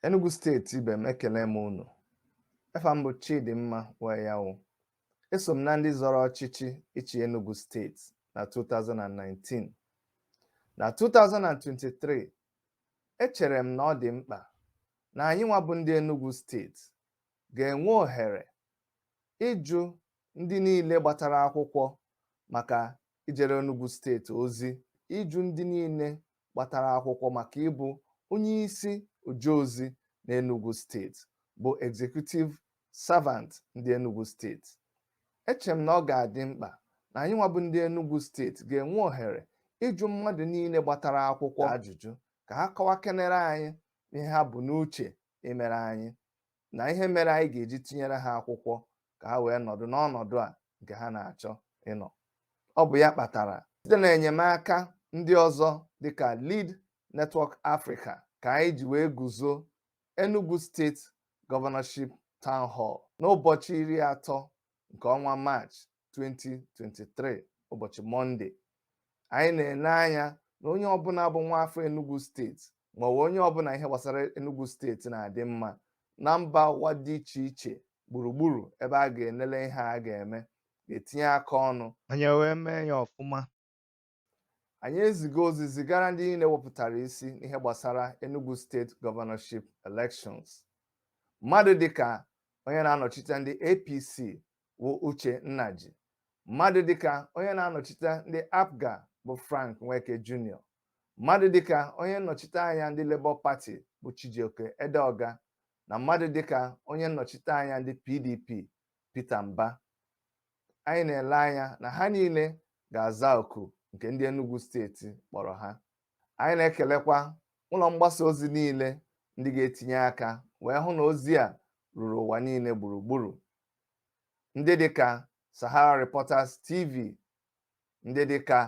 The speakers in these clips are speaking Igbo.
Enugu steeti ibe m ekele m unu efa m bụ Chidimma Wayawu eso m na ndị zọrọ ọchịchị ịchị Enugu steeti na 2019 na 2023 echere m na ọ dị mkpa na anyị nwa bụ ndị Enugu steeti ga-enwe ohere ịjụ ndị niile gbatara akwụkwọ maka ijere Enugu steeti ozi ịjụ ndị niile gbatara akwụkwọ maka ịbụ onye isi ojeozi na Enugu steeti bụ executive servant ndị Enugu steeti eche m na ọ ga-adị mkpa na anyị nwa bụ ndị Enugu steeti ga-enwe ohere ịjụ mmadụ niile gbatara akwụkwọ ajụjụ ka ha kọwakenere anyị ihe ha bu n'uche imere anyị na ihe mere anyị ga-eji tinyere ha akwụkwọ ka ha wee nọdụ n'ọnọdụ a nke ha na-achọ ịnọ ọ bụ ya kpatara site na enyemaka ndị ọzọ dịka Lead Network Africa ka anyị ji wee guzo Enugu State Governorship Town Hall n'ụbọchị iri atọ nke ọnwa Maachị 2023 ụbọchị mọnde anyị na-ele anya na onye ọbụla bụ nwa afọ Enugu steeti ma ọ bụ onye ọbụla ihe gbasara Enugu steeti na-adị mma na mba ụwa dị iche iche gburugburu ebe a ga-enele ihe a ga-eme ga-etinye aka ọnụ anyị wee mee ya ọfụma anyị ezigo ozi zigara ndị niile wepụtara isi n'ihe gbasara Enugu State governorship elections mmadụ dịka onye na-anọchite ndị APC bụ Uche Nnaji mmadụ dịka onye na-anọchite ndị APGA bụ Frank Nweke Jr mmadụ dịka onye nnọchite anya ndị Labour Party bụ Chijioke Edeoga na mmadụ dịka onye nnọchite anya ndị PDP Peter Mbah anyị na-ele anya na ha niile ga-aza oku nke ndị Enugu steeti kpọrọ ha anyị na-ekelekwa ụlọ mgbasa ozi niile ndị ga-etinye aka wee hụ na ozi a ruru ụwa niile gburugburu ndị dịka Sahara Reporters TV ndị dịka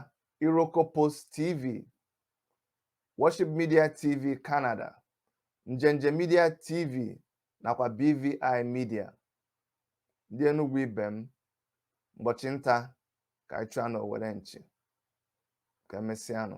Iroko Post TV Worship Media TV Canada Njenje Media TV nakwa BVI Media. Ndị Enugwu ibe m, ụbọchị nta ka anyị chụọ n'owere nchi. Ka emesịanụ.